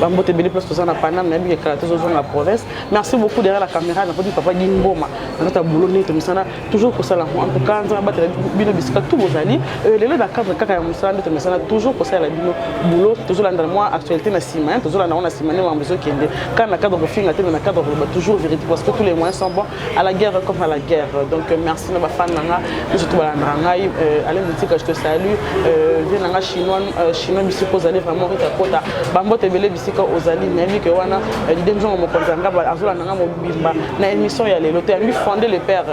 bambote ebele place toza na paname nayebi ke kala tozozonga province merci beaucoup derrière la caméra nakoti papa di mboma na kati ya boulot ndenge tomesana toujours kosala yango en tout cas nzambe abatela bino bisika tout bozali euh, lelo na cadre kaka ya mosala nde tomesana toujours kosalela bino boulot tozolandala mwa actualité na nsima tozolanda yango na nsima nde mambo ezokende kaka na cadre kofinga te me na cadre koloba toujours vérité parce que tous les moyens sont bons à la guerre comme à la guerre. Donc euh, merci na bafan nanga biso tobalandaka ngai euh, ale motika je te salue euh, vie nanga chinois chinois bisika ozali vraiment rita kota bambote ebele bisika ozali nayebi ke wana lide mzongo mokonzi ya ngaba azolanda nga mobimba na émission ya lelo toyambi fonde le père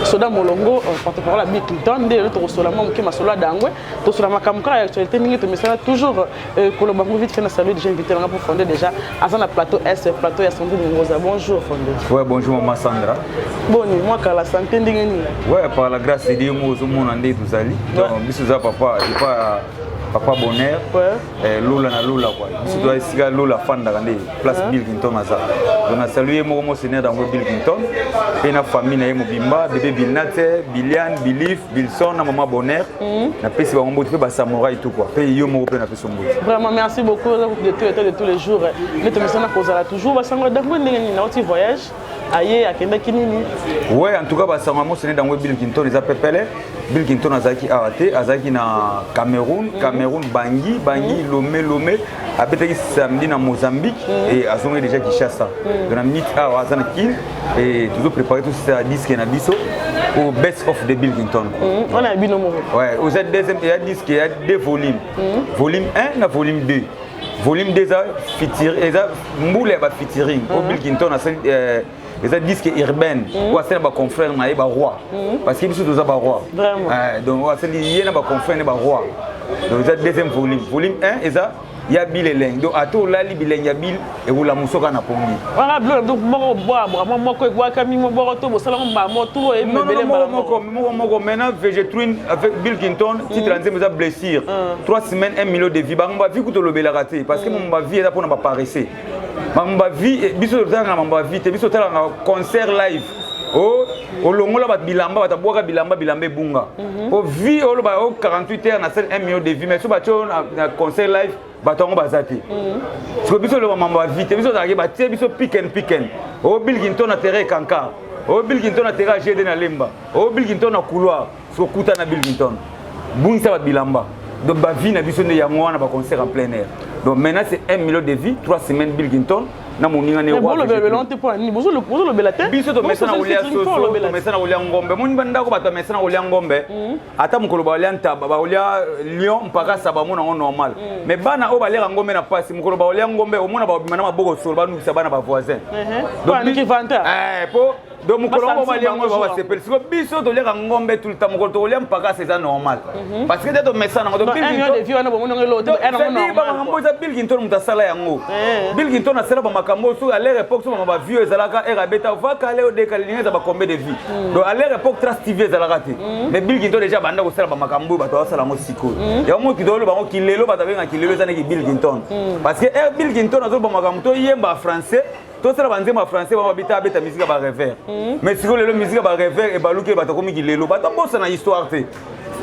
soda molongo porte-parole ya bill clinton nde lelo tokosola mwa moke masolo ya dangwe tosola makambo kaka ya actualité ndenge tomesana toujours Euh, koloba ngo vite fait na salut déjà invité nanga pour fonder déjà aza na plateau est plateau ya sandu mongoza bonjour fonder ouais bonjour maman Sandra boni moi kala santé ndenge nini ouais par la grâce de Dieu moi ozomona nde tozali donc biso za papa et pas papa bonheur eh, lola na lola kua biso toa esika lola afandaka nde place bill clinton aza donc na salue ye moko monseigneur yango bill clinton mpe na famille na ye mobimba bebe bilnate bilian bilif Bilson na maman Bonheur mm. na pesi bango mbote pe ba samurai tout quoi. Pe yo moko pe na pesi mbote. Vraiment merci beaucoup oza de tout état de tous les jours. Mais to misana ko zala toujours ba sango dango ndenge ni na oti voyage aye akendaki nini? Ouais en tout cas ba sango mo sene dango Bill Clinton eza pepele. Bill Clinton azaki awa te, azaki na Cameroun, mm. Cameroun Bangui, Bangui mm. Lomé Lomé. abetaki samedi na mozambique mm. et azongai déjà kinshasa mm. donc na minute awa aza na kin et tozo prépare tosisa disque na biso au best of the billington mm. ona ya bino moko ouais oza deuxième ya disque ya deux volume mm. volume 1 na volume 2 volume 2 eza feature eza mbula ya ba featuring mm. au billington asali euh, eza disque urbaine mhm. oyo asali na baconfrère na ye baroi mhm. parce que biso toza baroi eh, donc oyo asali ye na baconfrère na ye baroi donc eza deuxième volume volume 1 eza ya bile elenge donc ata olali bilenge ya bile ekola mosoka na pongi wana bilo donc moko bwabwa mwa moko ebwakami mwa bwako to bosalamo mbala moko to oyebi mebele mbala moko moko moko maintenant vegetruine avec bill clinton mm. titre ya nzembo eza blessure 3 mm. semaines 1 million de vie bango bavi kutu olobelaka te parce que mm. mo bavie eza mpo na baparese makambo ya vie eh, biso totalaka makambo ya vie te biso totalaka concert live o oh, olongola bato bilamba bato abwaka bilamba bilamba ebunga mhm. po vie oloba o 48 heures na sele 1 million de vie mais so batio na concert live bato yango baza te mhm. siko biso oloba mambo ya vie te biso ozalaki batie biso piken piken o oh, bilkinto na terrain kanka o oh, bilkinto na terrain gd na lemba o bilkinto na couloir sokuta na bilmington bungisa babilamba donc bavie na biso nde yango wana baconcert en plein air donc maintenant c'est un million de vie trois semaines bilkington na moninga ne bozolobela te biso tomesana kolia soso tomesana kolia ngombe moni bandako bato bamesana kolia ngombe hmm. ata mokolo baolia ntaba baolia euh, lion mpaka sa bamona yango normal hmm. mais bana oyo baliaka ngombe na mpasi mokolo baolia ngombe omona babima na maboko solo banukisa bana bavoisin uh-huh. donc po donc mokolo yango balia yango ba basepeli siko biso toliaka ngombe tout le temps mokolo tokolia mpakasa eza normal mhm. parce que te tomesana yango bakambo eza bill kinton moto asala yango eh. bill kinton asala bamakambo oyo soki alere époque soki baview ezalaka ere abeta vakale odeka lilingi eza bacombe de vie mm. donc alere époque trace tv ezalaka te mm. mais bill kinton déjà banda kosala bamakambo oyo bato basala yango sikoyo mm. yango moto kitolo bango kilelo bato abenga kilelo eza neki bill kinton parce que ere eh, bill kinton azoloba makambo toyemba français tosala banzembo ya français ba babita abeta musique ya barevere mhm. mais sikoyo lelo musique ya barevere ebaluki bato akomi kilelo bato abosana histoire te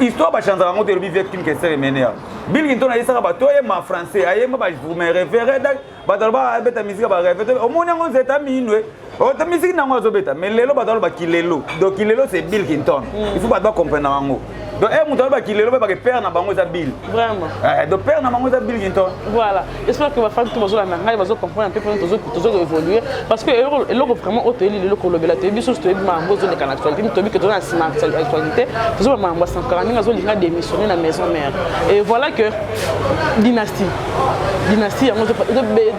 histoire bachanzaka yango te elobi vie kim kester emenea bilgi ntona ayesaka bato oyema français ayemba bavrume revere bato aloba abeta musique ya barevere omoni yango nzeta minwe ota misiki nango azobeta mais lelo bato aloba kilelo donc kilelo c'est bill kinton mhm. il faut bato bacomprendre yango donc e moto alobaki lelo bayebaka père na bango eza bile vraiment eh, donc père na bango eza bile kinto voilà espère que bafandi to bazolanda ngai bazocomprendre mpe mpona tozokoévolue parce que eloko vraiment oyo toyebi lelo kolobela toyebi biso so toyebi makambo ezoleka na actualité mpe toyebi ke toza na nsima actualité tozoba makambo ya sankara ndenge azolinga démissionne na maison mère et voilà que dynastie dynastie yango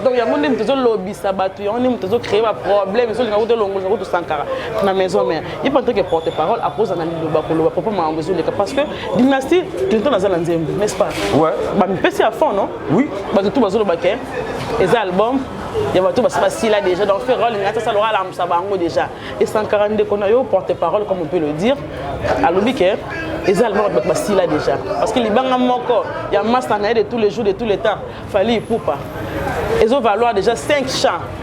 donc yango nde moto ezolobisa bato yango nde moto ezocréer baproblème ezolinga kuta elongolisa kutu sankara na maison mère ye mpe antoke porte parole akoza na liloba koloba papa makambo ezoleka parce que dynastie clinton aza na nzembo n'est ce pas bamipesi ya fond non oui bato tu bazoloba ke eza album ya bato basi basila déjà donc ferre alingi ati asala alamusa bango déjà e 140 ndeko na yo porte parole comme on peut le dire alobi ke eza album ya bato basila déjà parce que libanga moko ya masta na ye de tous les jours de tous les temps Fally Ipupa ezo valoir déjà 5 chants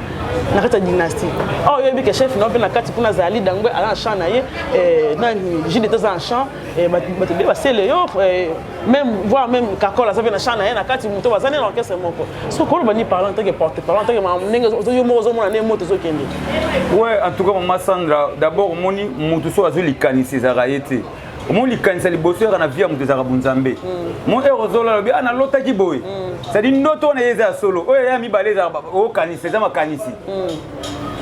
na kati ya dynastie awa oh, oyebi ke chef na mpe na kati kuna azali dangwe aza na champ na ye eh, na jude ete aza na champ eh, bato be basele yo eh, même voir même kakol aza mpe na champ na ye na kati moto baza nde na orchestre moko soki koloba ni parlant ntake porte parlant ntake ndenge yo moko ozomona nde moto ezokende we en tout cas mama sandra d'abord omoni moto soki azwi likanisi ezalaka ye te omoni likanisa liboso yaka na vie ya moto ezalaka bonzambe hmm. mo ero ozolo alobi a ah, nalotaki boye hmm. cetadi ndoto wana ye eza ya solo oyo ya mibale ezalaka okanisi eza makanisi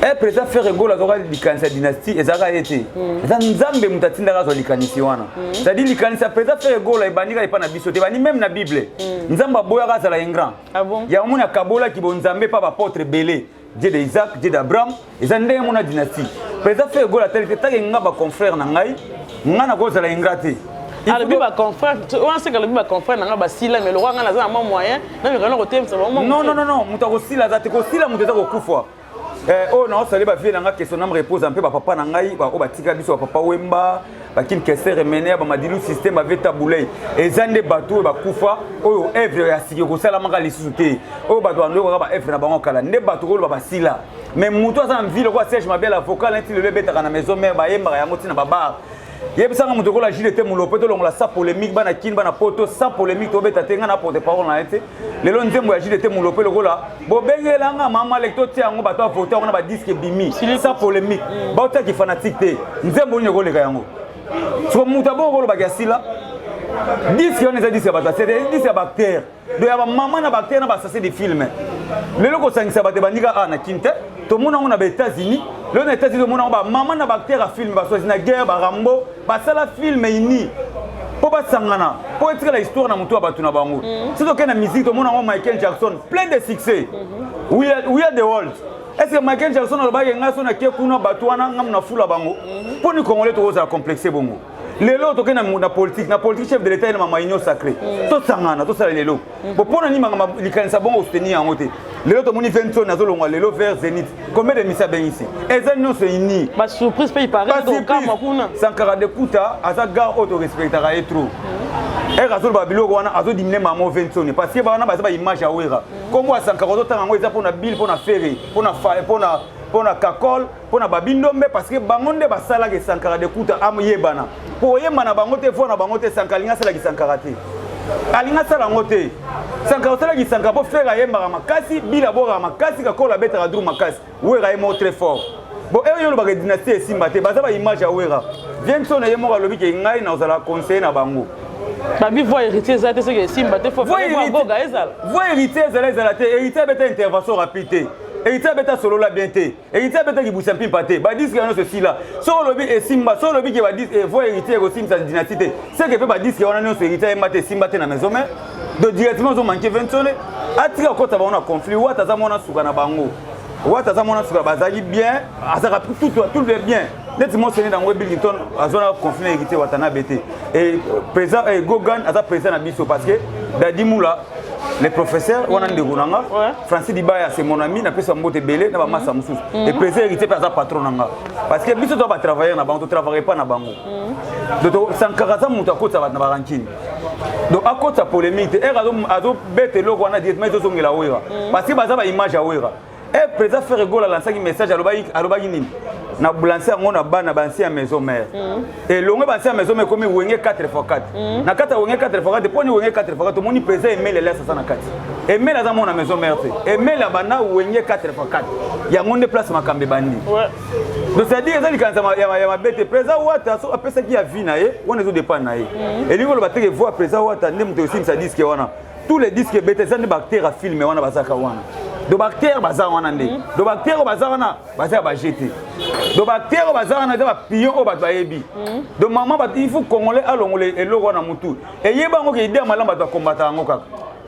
e eh, président ferre gol azwaka likanisi ya dynastie ezalaka ye te eza nzambe moto atindaka azwa likanisi wana cetadi likanisi ya président ferre gol ebandi kaka epai na biso te ebandi meme na bible nzambe aboyaka azala ingrand ah yango moni akabolaki bonzambe epai bapotre ebele Dieu de Isaac, Dieu d'Abraham, eza ndenge mona dynastie. Président Ferre Gola tel que tangi nga ba confrères na ngai, nga na kozala ingrat te. alobi ba confrère wana seke alobi ba confrère nanga basila mais lokola ngai naza na mwa moyen namekana kotemisa bango non non non moto akosila aza te kosila moto eza kokufa eh, oyo naosali bavie na ngai question name repose mpe bapapa na ngai baoyo batika biso bapapa wemba bakil kester emeneya bamadilu systeme aveta bulei eza nde bato oyo bakufa oyo evre ya sika ekosalamaka lisusu te oyo bato bandoyokaka ba evre na bango kala nde bato koloba basila me motu aza na mvile okoa serge mabela vocal neti lelo ebetaka na maison mare bayembaka yango ntina babare yebisanga moto okola jile te molope tolongola sa polémique bana kini bana poto sa polémique tobeta te ngai na porte parole na ye te lelo nzembo ya jdt mulope lokola bobengela nga mama leki totia yango bato avote yango na badiske ebimi sa polémique mm. baotia kifanatique te nzembo nini ekoleka yango soko moto abongo kolobaka ya sila diske wana eza diske ya bato ya sete diske ya bactere do ya bamama na bactere na basase de filme lelo kosangisa bato ebandika a na kin te tomona yango na baétats-unis lelo na états-unis tomona yango bamama na bactere ya filme baswasi na guerre barambo basala film ini mpo basangana mpo etikala histoire na motu ya bato na bango mhm. soki tokei na musique tomona yango michael jackson plein de succès mhm. we are the world est ce que michael jackson alobaki ngai so nakie kuna bato wana ngai na fula bango mhm. mpo ni congolais tokozala complexe bongo lelo tokei na politique na politique chef de l'état ye na mamainio sacré tosangana tosala lelo Mm. Bon, pona ni mangama likanisa bongo soutenir yango te. Lelo to moni Vincent nazo longwa lelo vers Zenith. Combien de misa ben ici? Eza non se ini. Ba surprise pe il paraît do kama kuna. Sankara de Kuta aza gars auto respectera et trop. Mm. Era azo ba biloko wana azo diminuer maman Vincent parce que ba wana ba za ba image ya Wera. Kombo mm. Sankara zo tanga ngo eza pona Bill pona Ferre pona pona pona Kakol mpo na babindombe parceke bango nde basalaka esankara de kuta ayebana mpo oyemba na bango te voi na bango te esankara alingi asalaka esankara te alingi asala yango te sankara osalaka esankara mpo fere ayembaka makasi bila abokaka makasi kakola abetaka dru makasi wera ye moko très fort bo eyo olobaka dynastie esimba te baza baimage ya wera vienso na ye moko alobi ke ngai nakozala conseiller na bango babi voi héritier eza te soki esimba te voi héritier ezala ezala te héritier abeta intervention rapide te héritier abeta solola bien te héritier abetaki busa mpimpa te badiske yango nyonso esila soki olobi esimba soki olobi ke badise evo eh, héritier ekosimbisa dynastie te seke mpe badiske wana nyonso héritier ayemba te esimba te na maison mare do directement ozomanke vensone atika kokota bango na conflit wata aza mwana suka na bango wata aza mwana suka bazalaki bien azalaka tout le bien neti mosene na yango ebillington azwana conflit na héritier watanabe te e président eh, gogan aza président na biso parce que dadimula le professeur wana ndeko na nga francis libaya c'est mon ami napesa mbote ebele na bamasa mhm. mosusu mhm. eprese héritier mpe aza patron na nga parce que biso toa batravailleur na bango totravaille epa na bango mhm. donc sankaka aza moto akotisa bato na barankine donc akotisa polémique te ere azobeta eloko wana directement ezozongela wera parce que baza baimage ya wera Eh, président Ferre Gola lansaki message alobaki alobaki nini na blanse yango na bana banse ya maison mère mm. elongo banse ya maison mère ekomi wenge 4 fois 4 mm. na kati ya wenge 4 fois 4 mpo ni wenge 4 fois 4 omoni président emeli elias aza na kati emeli aza mwana maison mère te emeli abanda wenge 4 fois 4 yango nde place makambo ebandi donc c'est-à-dire eza likanisa ya mabe te président wata soki apesaki ya vie na ye wana ezodépendre na ye mm. elingi oloba teke voi président wata nde moto esimisa diske wana tous les disques ebeta eza nde baacteur ya filme wana bazalaka wana do baacteur baza wana nde mhm. do baacteur oyo baza wana baza ya baje te do baacteur oyo baza wana eza bapion oyo bato bayebi mhm. do mama bato il faut congolais alongola eloko wana motu eyeba yango ke idea malamu bato bakombata yango kaka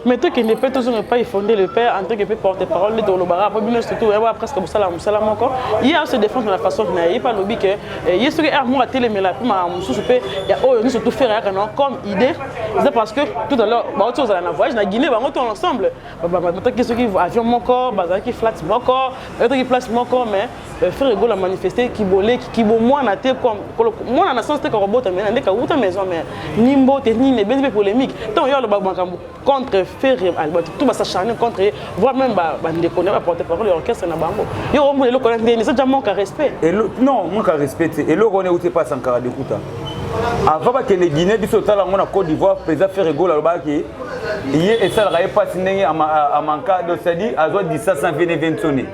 mais tokende mpe tozonga epai fonde le père en tant que mpe porte parole nde tolobaka mpo bino surtout yaba presque bosala mosala moko ye ase défendre na façon na ye mpe alobi ke Eh, ye soki heure moko atelemela mpe makambo mosusu mpe ya oyo nyonso tofere yaka na comme idée eza parce que tout à l'heure bauti ozala na voyage na guinée bango to ensemble bataki soki avion moko bazalaki flat moko bataki place moko mais euh, frère egola manifeste kiboleki kibomwana te mwana na sens te kakobota mena nde kawuta maison mère ni mbote nini ebendi mpe polémique ntango yo aloba makambo contre ferre albert tout basa charne contre ye voire même bandeko na baporte parole ya orchestre na bango yo omona eloko na ndeni eza ja manque ya respect non manque ya respect te eloko wana euti epa sankara dekuta avant bakende guinée biso otala yango na côte d'ivoire président ferre gola alobaki ye esalaka ye mpasi ndenge amanka donc cetadi azwa disasa vene vensone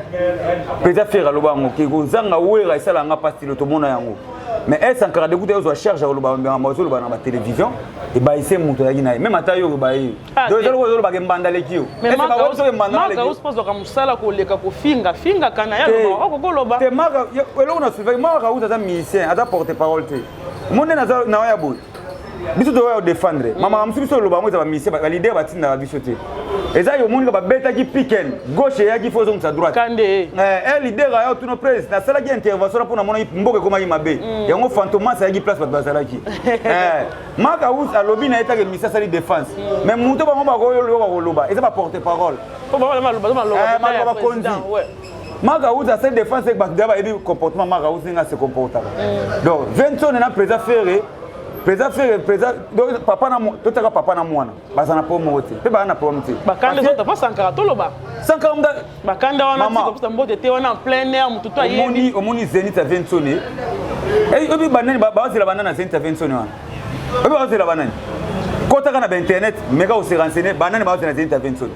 président ferre aloba yango ke kozanga wera esalaka nga mpasi tilo tomona yango mais esankara dekuta ozwa charge akoloba makambo azoloba na batelevizio ebayise moto oyaki na ye meme ata yo obaye ah, donc ezali ozolobaka embanda leki yo ezaka mosala koleka kofinga fingaka na yaokokoloba te maka eloko na suivaki maka kauta aza musicien aza porte parole te monde naza na oya boye biso toya odefendre mama mosusu biso oloba yango eza bamisien balidere batindaka biso te eza yo monika babetaki piken gauche eyaki fo ezongisa droite kande e eh, leader aya otuna presi nasalaki intervention mpo namonaki mboka ekomaki mabe mm. yango fantomas ayaki place bato bazalaki eh, maka us alobi na ye take misi asali défense mm. mais moto bango bakoyoka koloba eza baporte parole eh, bakonzi maka us asali défense eke bato deya bayebi comportement maka us ndenge ase comportaka mm. donc vincent na président ferre président ferre président papa na totaka papa na mwana baza na po moko te mpe baza na problème te bakanda ezota mpo sankara toloba sankara mga bakanda wana tikopusa mbote te wana en plein air motu to ayebi omoni zenit ya vensone eh, oyebi banani bazela banani na zenit ya vensone wana oyebi bazela banani kotaka na bainternet meka oserensene banani bazela zenit ya vensone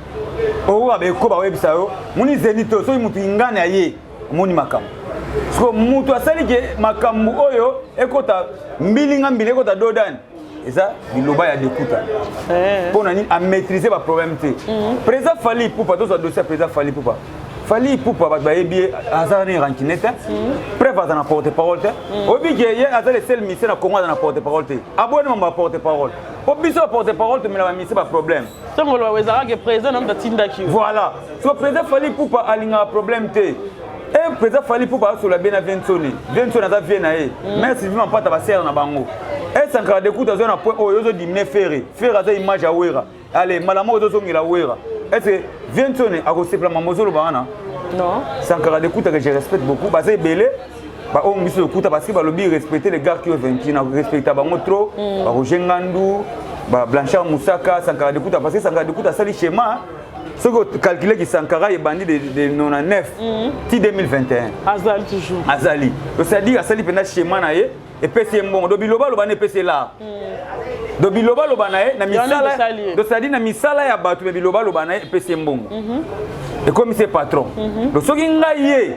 okoka beko bakoyebisa yo moni zenit oyo soki motu ingani aye omoni makambo siko motu asali ke makambo oyo ekota mbilinga mbili ekota dodani eza biloba ya dekuta eh. mpo na nini amaîtrise baproblème te mhm. président fali ipupa tozwa dossier ya président fali ipupa fali ipupa bato bayebi ye aza ni rancune te mhm. preuve aza na porte parole te mhm. oyebi ke ye aza le seul mise na congo aza na porte parole te aboni mambo ya porte parole mpo biso ya porte parole tomela bamise baproblème ntango oloba ezalaka ke président na moto atindaki voilà so président fali ipupa alingaka problème te Eh, président fali mpo basola bie na viensoni viensoni aza vie na ye mm. mais sylvie mampata basere na bango eh, sankara dekute azwa na point oyo ozodimine fere fere aza image ya wera ale mbala moko ozozongela wera ece viensoni akosepela mambo ozoloba wana sankara dekute que je respecte beaucoup baza ebele baoyo biso lokuta parce que balobi respecte les gars qui ont vaincu na respecta bango trop mm. baroger ngandu blanchard mosaka sankara dekuta parce que sankara dekuta asali schéma soki okalkule ki sankara ebandi de, de 99 mm. ti 2021 azali toujours azali osadi asali mpenza schéma na ye epesi ye mbongo do bilobaloba na epesi ye lar mm. do bilobaloba na ye na misala dosadi na misala ya bato me bilobaloba na ye epesi ye mbongo mhm. ekomisi ye patron mhm. do soki ngai ye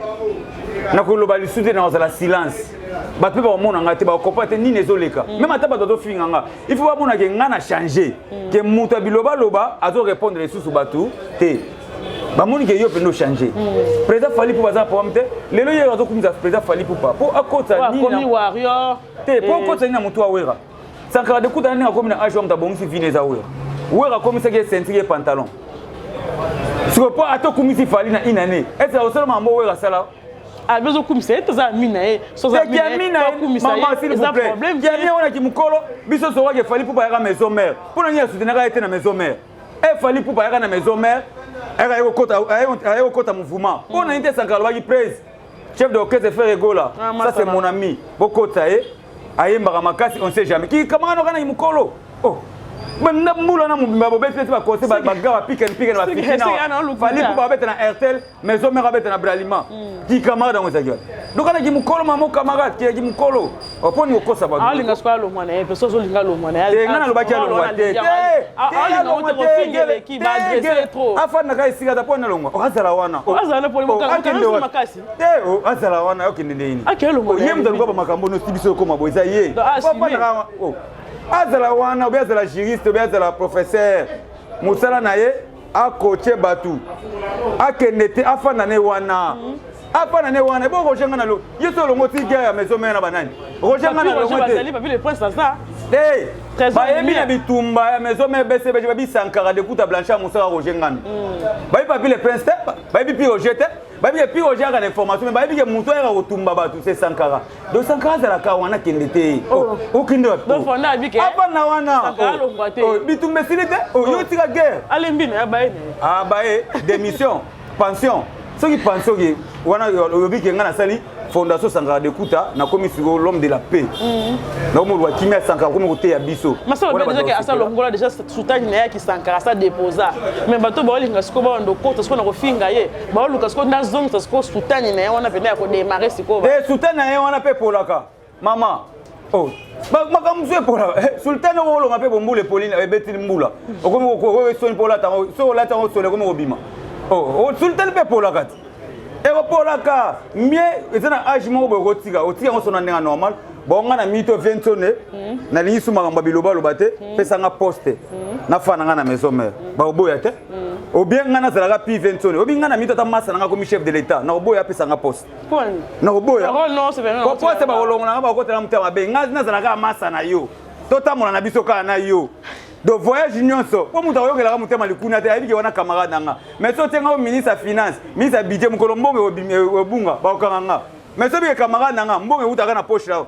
nakoloba lisusu te nakozala silence bato mpe bakomona ngai te bakokopa te nini ezoleka mm. meme ata bato bazofinga ngai il faut bamona ke ngai na change mm. ke moto ya bilobaloba azo répondre lisusu bato te bamoni ke yo mpenza ochange mm. président fali mpo baza na problème te lelo ye azokumisa président fali pupa mpo akotisa nini te mpo eh. akotisa nini na motu awera sankara dekutana ndenge akomi na age wa moto abongisi vine eza wera wera akomisaki ye sentiri ye pantalon sikoyo mpo ata okumisi fali na inane ete osala mambo wera asala abi ozokumisa ye toza ami na ye soaminaayeakumisa wana kimokolo biso sokaki efali mpo bayaka maison mare mpo na nini asutenaka ye te na maison mare efali mpo bayaka na maison mare aye kokota mouvement mpo na nini te sankara alobaki prese chef de orchestre frère egola ah, ça c'est mon ami bokota ye ayembaka makasi on sait jamais ki kamaka noka na mukolo oh banda mbula na mobimba bobeti neti bakonse baga bapikani pikani bafikinafali mpo babeta na airtel maison mare abeta na bralima hmm. ki camarade yango ezalaki wana donc anaki mokolo mamo camarade kiyaki mokolo mponi oh, kokosa bato alinga soki alongwa na ye mpe soki olinga alongwa na ye nga nalobaki alongwa te afandaka esika ata mpo nalongwa okazala wana akende teo azala wana okende nde nini Akende longola ye ye moto aluka mobimba. bamakambo oyo osi biso ekoma boye eza ye Donc, ah, Papa assume. naka- oh. azala wana obe azala juriste obe azala professeur mosala na ye akoche bato akende te afanda ne wana afanda ne wana ebo roger nga na lo ye so olongo ti guerre ya maison mère na banani roger nga na Papi Roger longo te bazali, Papi le prince aza. Hey, Trésor bayebi Lumière. na bitumba ya maison mère bcbg babi sankara dekuta blanche ya mosala roger ngana bayebi papi le prince te bayebi pi roger te bayebi ke pire ojaka na information me bayebi ke moto ayaka kotumba bato se sankara do sankara azalaka wana kende te oh. Oh, okende wapafanda oh. wana bitumba esili te yo tika guerre abaye ah, démission pension soki pension oke wana olobi ke ngai nasali fondation sankara de kuta nakomi siko l'homme de la paix mhm. nakomoloba kimia sankara akomi koteya biso asalongola deja soutane na yaki sankara asa deposa mais bato baolinga siko bawanda okota siko na kofinga ye baoluka siko ndazongisa siko soutane na ye wana mpena ya kodemare sikoyo eh, soutane na ye wana mpe epolaka mama oh. makambo mosusu epola eh, sultane oko olonga mpe bombula epoli ebeti mbula okomi soni mpo olata yango soki olati yango soni ekomi kobima oh, oh, sultane mpe epolaka ti ekopolaka mie eza na age moko boye okotika otika yango sona ndenge normal bonga na mito viensone hmm. nalingi su makambo ya bilobaloba te hmm. pesa nga poste hmm. nafana nga na maison mare bakoboya te obienga nazalaka pi viensone obi nga na mito ata masa na nga komi chef de l'état nakoboya apesa nga poste nakoboya kokosa bakolongola nga bakotela motema mabe ngai nazalaka masa na yo totambola na biso kaka na yo de voyage nyonso mpo moto akoyokelaka motema likuna te ayebi ke wana camarade na nga mais so otie nga o ministre ya finance ministre ya budget mokolo mbongo ebunga bakokanga nga mais so bike camarade na nga mbongo ewutaka na poche na yo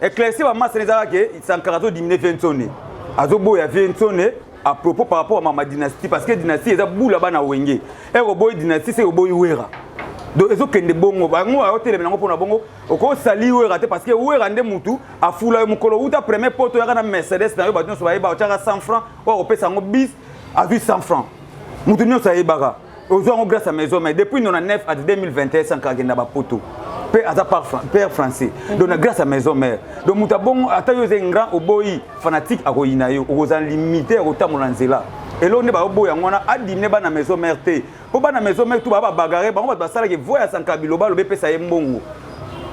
eclaircir ba masse eza ke sankara zo diminuer viensone azo boya viensone à propos par rapport à mama dynastie parce que dynastie eza bula bana wenge eko boyi dynastie se oboyi wera donc ezokende bongo bango aoteleme yango mpona bongo okosali wera te parce que wera nde mutu afula yo mokolo uta premier poto oyaka na mercedes na yo bato nyonso bayeba otyaka 100 franc oyo akopesa yango bis azwi 100 franc mutu nyonso ayebaka ozwa yango grâce ya maison mais depuis 99 ata 2021 sanka akenda bapoto mpe aza père français donc na grâce ya maison mère donc moto abongo ata yo oza ingrand oboyi fanatique akoyina yo okozala limite ya kotambola na nzela eloko nde baoboya yango wana adimne bana maison mère te mpo bana maison mère tu baa babagare bango bato basalaki voi ya sanka biloba alobi epesa ye mbongo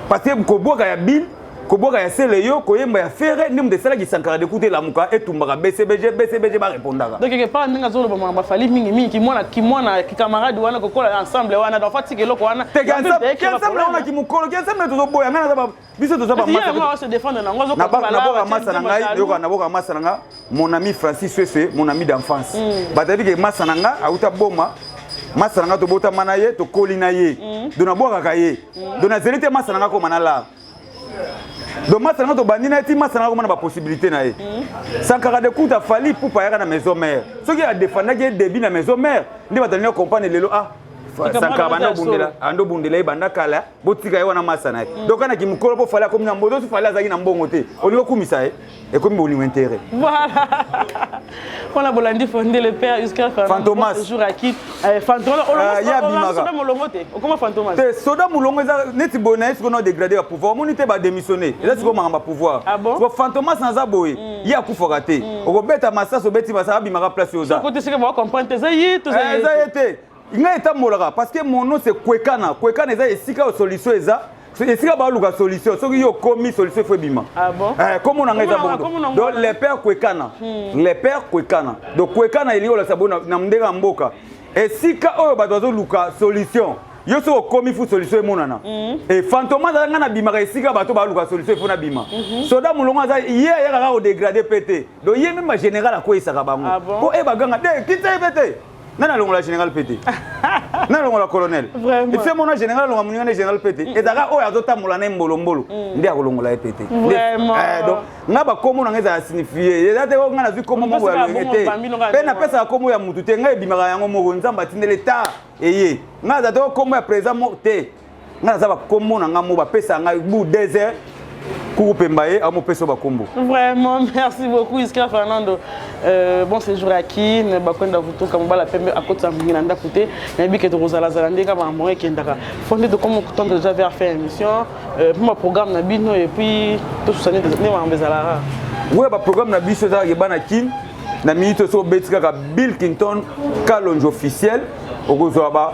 parce que kobwaka ya bile kobwaka ya sele yo koyemba ya fere nde moto esalaki sankara de kute lamuka etumbaka bcbg bcbg barepondaka donc epa ndenge azoloba makambo afali mingi mingi kimwana kimwana kikamarade wana kokola ensemble wana donc atika eloko wana ensemble wana kimokolo ensemble tozoboya ngai naza biso tozaboka masa na ngai yoka naboka masa na nga mon ami francis sweswe mon ami d'enfance hmm. batabi ke masa na nga auta boma masa na nga tobotama na ye tokoli na ye hmm. do nabwakaka ye hmm. do nazeli te masa na nga koma na lar donc masana nga tobandi na ye ti masana nga komona bapossibilité na ye mm. sankara de kuta fali pupa ayaka na maison mare soki adefandaki ye début na maison mare nde bato alingi comprendre lelo ah sankara banda obundela ando obundela ye banda kala botika ye wana masana ye mm. donc ana kimokolo mpo fali akomi na mboto osi fali azalaki na mbongo te olingi okumisa ye ekomi bolingo intérêt voilà mpona bolandi fonde le père uscar fantomasjour aki eh, fantomasoda ah, molongo te okoma fantomas te soda molongo eza neti boye na ye sikoyo na dégrade ya pouvoir omoni te badémissionne eza mm. sikoyo makambo ya pouvoir ah po fantomas naza boye mm. ye akufaka te mm. okobeta masasi obeti masasi abimaka place oza eza ye te ngai etambolaka parce que mon nom c'est kwekana kwekana eza esika oyo solution eza esika baluka solution soki yo okomi solution efo ebima ah eh, komo na ngai eza bondo donc le père kwekana hmm. le père kwekana donc kwekana elingi olakisa bo na ndenge ya mboka esika oyo bato bazoluka solution yo soki okomi fu solution emonana hmm. e fantome azala ngai nabimaka esika bato baluka solution efo nabima hmm. soda molongo aza ye ayaka kaka kodegrade mpe te donc ye meme bagénéral akweyisaka bango mpo ah e baganga de kita ye mpe te nani alongola général pete nani alongola colonel efe mona général alonga moninga nde général pete mm. ezalaka oyo azotambola na ye mbolombolo mm. nde akolongola ye pete eh, donc nga bakombo na nga ezala signifie eza te nga nazwi kombo moko ya loyenge te mpe napesaka kombo ya motu te ngai ebimaka yango moko nzambe atindeli ta eye nga aza te kombo ya président moko te ngai naza bakombo na ngai mo bapesa ngai bu deux heures kokopemba ye amopesa bakombo vraiment merci beaucoup iska fernando euh, bon séjour ya kin bakwenda kotoka mobala pembe akotisa mingi na ndako te nayebi ke tokozalazala nde kaka makambo ekendaka fo nde tokoma kotendre déjà vers fin émission euh, mpo baprogramme na bino et puis tosusa nde makambo ezalaka oyo baprogramme na biso ezalaka ebana kin na minute oso obeti kaka bill kington kalonge officiel okozwa ba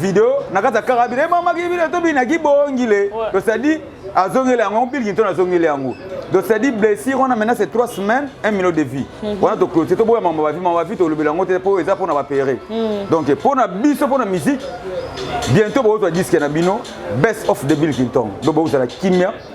video na kati ya kaka bino emamaki eh, bino tobi na kibongile donc c'est-à-dire azongeli yango biliki to nazongeli yango donc c'est-à-dire blessure wana maintenant c'est trois semaines un minute de vie mhm. wana toclotire toboya mambo bavi mambo bavi tolobela yango te mpo eza mpo na bapere mhm. donc mpo na biso mpo na musique bientôt bokozwa diske na bino best of de bill kinton donc bokozala kimia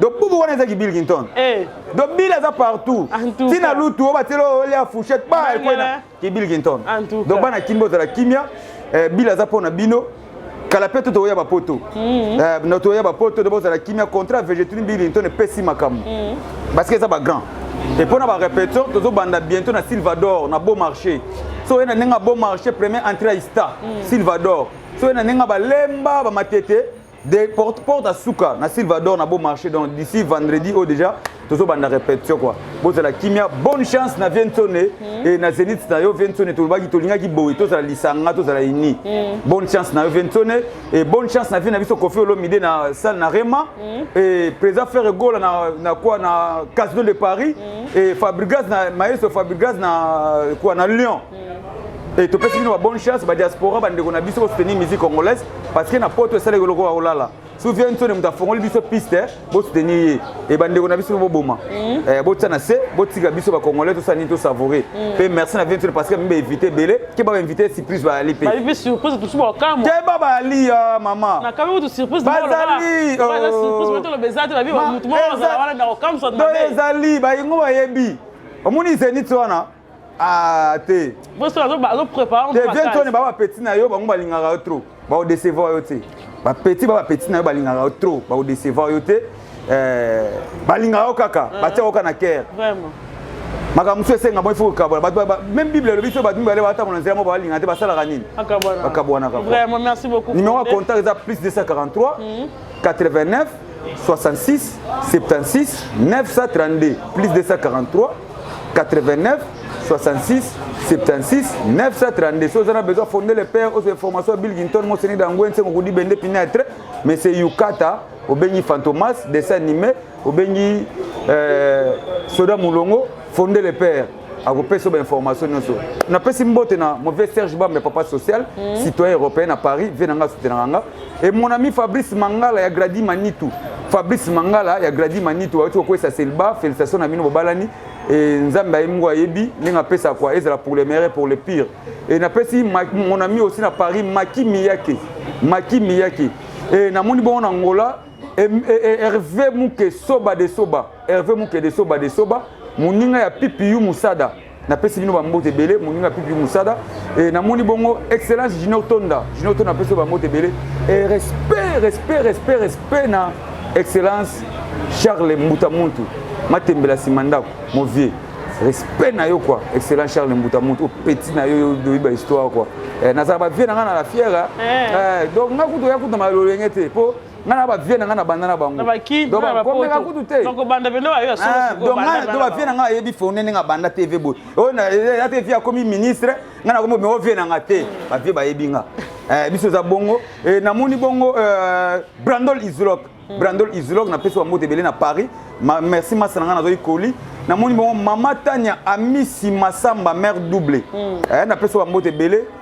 donc bubu wana ezaki bill clinton eh. donc bill aza partout ntina lutu oyo bateli olia fouchette ba ekwena ki bill clinton donc bana kimia ozala kimia eh, bill aza mpo na bino kala mpe to tokoya bapoto mhm. eh, na tokoya bapoto nde bozala kimia contrat vegetini bill clinton epesi makambo mhm. parce que eza bagrand e mpo na barepétition tozobanda bientôt na silvador na beau marché so oye na ndenge ya beau marché premier entrée ya ista mhm. silvador so oye na ndenge ya balemba bamatete de porte porte à suka na Silvador na beau marché donc d'ici vendredi au oh, déjà tozo banda répétition quoi bozala kimia bonne chance na Vientone mm. et na Zenith na yo Vientone tolobaki tolingaki boye tozala lisanga tozala ini mm. bonne chance na yo Vientone et bonne chance na vie na biso Koffi Olomide na salle na Rema mm. et président Ferre Gola na na quoi na Casino de Paris mm. et Fabregas na Maestro Fabregas na quoi na Lyon Et tu peux une bonne chance, ba diaspora, ba ndeko na biso ko soutenir musique congolaise parce que na poto esala ko lokola olala. Souviens toi de mutafongoli biso piste, bo soutenir ye. Et ba ndeko na biso bo boma. Mm. Eh bo tsana se, bo tika biso ba congolais to sani to savourer. Mm. Pe merci na viens parce que mbe invité belé, ke ba invité surprise ba ali pe. Ba invité surprise tout ba kamo. Ke ba ba ali ya mama. Na kamo tout surprise ba ali. Ba oh. surprise moto lo bezate ba bi ba mutu mo ba wala na kamo so na. Ba ezali ba ingo ba yebi. Omoni zenith wana. Ah, te vientone ba bapeti na yo bango balingaka yo trop baodecevoir yo te bapeti ba bapeti na yo balingaka yo trop baodecevoir yo te eh, balingaka yo kaka ah. batia yoka na kere makambo mosusu esenga moi fo kokabola bato meme bible elobi so bato mibale batambola nzela moko balinga te basalaka nini bakabwanaka numero ya contact eza plus 243 89 66 76 932 plus 243 89 66 76 932 soki oza na besoin fonde le père ozwa information ya bilginton moseni dangwe nsengo kudi bende pinetre mais c'est yukata obengi fantomas dessin animé obengi euh, soda mulongo fonde le père akopesa yo bainformation nyonso napesi mbote na mauvais serge bambe papa social mm. citoyen européen na paris vie na ngai asutenaka nga Et mon ami Fabrice Mangala ya Grady Manitou. Fabrice Mangala ya Grady Manitou awuti kokwesa Selba, félicitations na bino bobalani. Et Nzambe ayebi ngo ayebi ndenge apesa kwa ezala pour le meilleur pour le pire. Et napesi mon ami aussi na Paris Maki Miyake. Maki Miyake. Et namoni bongo na Angola e, e, e, Hervé Muke Soba de Soba. Hervé Muke de Soba de Soba. Moninga ya Pipiyu Musada. napesi bino bambote ebele moninga pipi mosada e, namoni bongo excellence junior tonda junior tonda napesi yo bambote ebele e, respect respect respect respect na excellence charles mbuta muntu matembela nsima ndako movie respect na yo kua excellence charles mbuta muntu opeti na yo oyebi bahistoire kua e, nazala bavie na ngai na la fiere eh. eh, donc ngai kutu oya kutu na malolenge te mpo nga na bavie na nga na banda na bangokomeka kutu te donc bavie na nga ayebi fone ndenge abanda te ve boye oyo ate vie akomi ministre nga nakomi me ovie na nga te bavie bayebi nga eh, biso eza bongo eh, namoni bongo eh, brandol islok hmm. brandol islok napesi bango ebele na paris merci masa na nga nazwaki koli namoni bongo mama tania amisi masamba mare double hmm. napesi bango ebele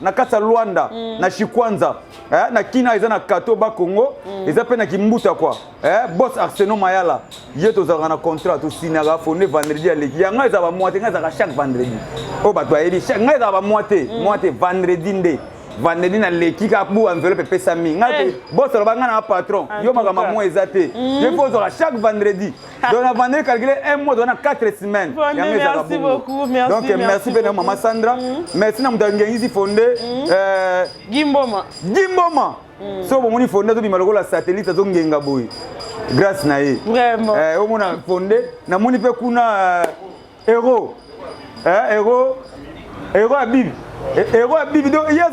na kati ya Luanda mm. na Shikwanza eh, na Kina eza na kato ba Congo mm. eza pe na Kimbuta kwa eh, boss Arsenal Mayala ye tozalaka na contrat tosinaka fonde vendredi ya leki yango eza ba moite ngai ezalaka chaque vendredi oyo bato bayebi ngai eza ba moite mm. moite vendredi nde vandeli na leki ka bu enveloppe epesami ngai eh. bosoloba ngai na patron yo makambo yango eza te ye mpo ozwaka chaque vendredi donc na vanda calculer un mois wana 4 semaines yango ezalaka bongo donc merci mpe na mama sandra mm. merci na moto angengisi fonde mm. euh, gimboma gimboma mm. soki bomoni fonde azobima lokola satellite azongenga boye grâce na ye eh, omona fonde namoni mpe kuna euh, Hero. Eh, hero. Hero ya bibi. Eh, hero ya bibi. Donc, il y a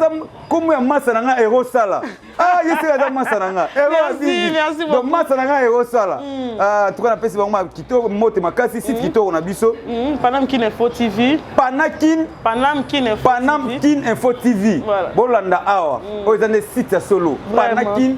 comme ya massa na nga hero sala. Ah, il y a ça massa na nga. Hero ya bibi. Merci beaucoup. Donc massa na nga hero sala. Mm. Ah, tu connais pesi bango kitoko mote makasi site mm. kitoko na biso. Mm. Panam Kin Info TV. Panakin. Panam Kin Info. Panam Kin Info TV. Voilà. Bolanda awa. Mm. Oyo ezande site ya solo. Panakin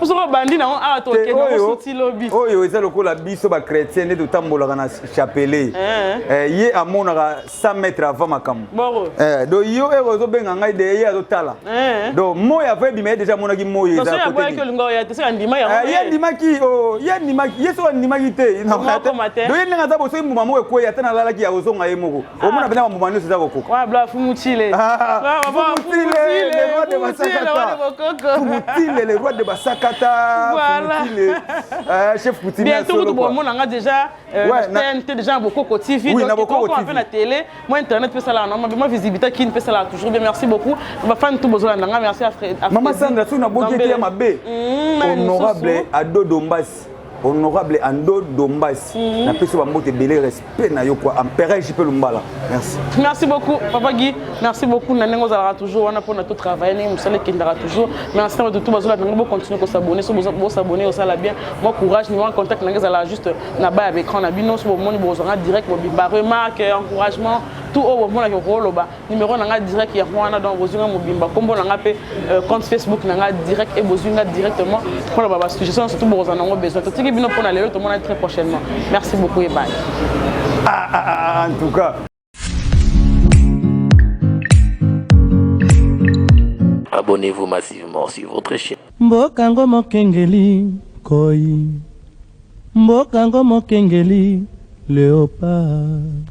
soki obandi nango awa tokende osuti lobi oyo eza lokola biso bachrétien nde totambolaka na chapelet eh. Eh, ye amonaka 100 mètre avant makambo eh, do yo eko ozobenga ngai de ye azotala do moi avo ebima ye deja amonaki moi ye andimaki oh, ye andimaki ye soki andimaki te do ye ndenge aza bosoki mbuma moko ekwei ata nalalaki ya kozonga ye moko omona mpena bambuma nyonso eza kokoka fumutile le roi de basakata chef kutimbientokutubomona nga déjà tnt déjà na bokoko tv na bokoko tv mpe na télé moi internet mpe esalaka na mabe moi visibilité kini mpe esalaka toujours bien merci beaucoup bafani tout bozolanda nga merci mama sandra soki na boki ete ya mabe honorable adodo mbasi honorable ando dombasi mm -hmm. napesi bambote ebele respect na yo kua empereur jipe lumbala merci merci beaucoup papa guy merci beaucoup na ndenge ozalaka toujours wana mpona to travaille ndenge mosala ekendaka toujours merci na bato tu bazola ndenge bocontinue kosabone so bosabone osala bien mwa courage nima contact nange ezalaka juste na baya baécran na bino so bomoni bozwanga direct bobimba remarque encouragement tout oyo bomonaki okoloba numero na nga direct yango wana donc bozwi nga mobimba nkombo na nga mpe euh, compte facebook na nga direct e bozwi nga directement mpo na ba basuggestion surtout bokozala nango besoin totiki bino mpo na lelo tomonani très prochainement merci beaucoup ebale ah, ah, ah, en tout cas abonnez-vous massivement sur votre chaîne mboka ngo mokengeli koi mboka ngo mokengeli leopard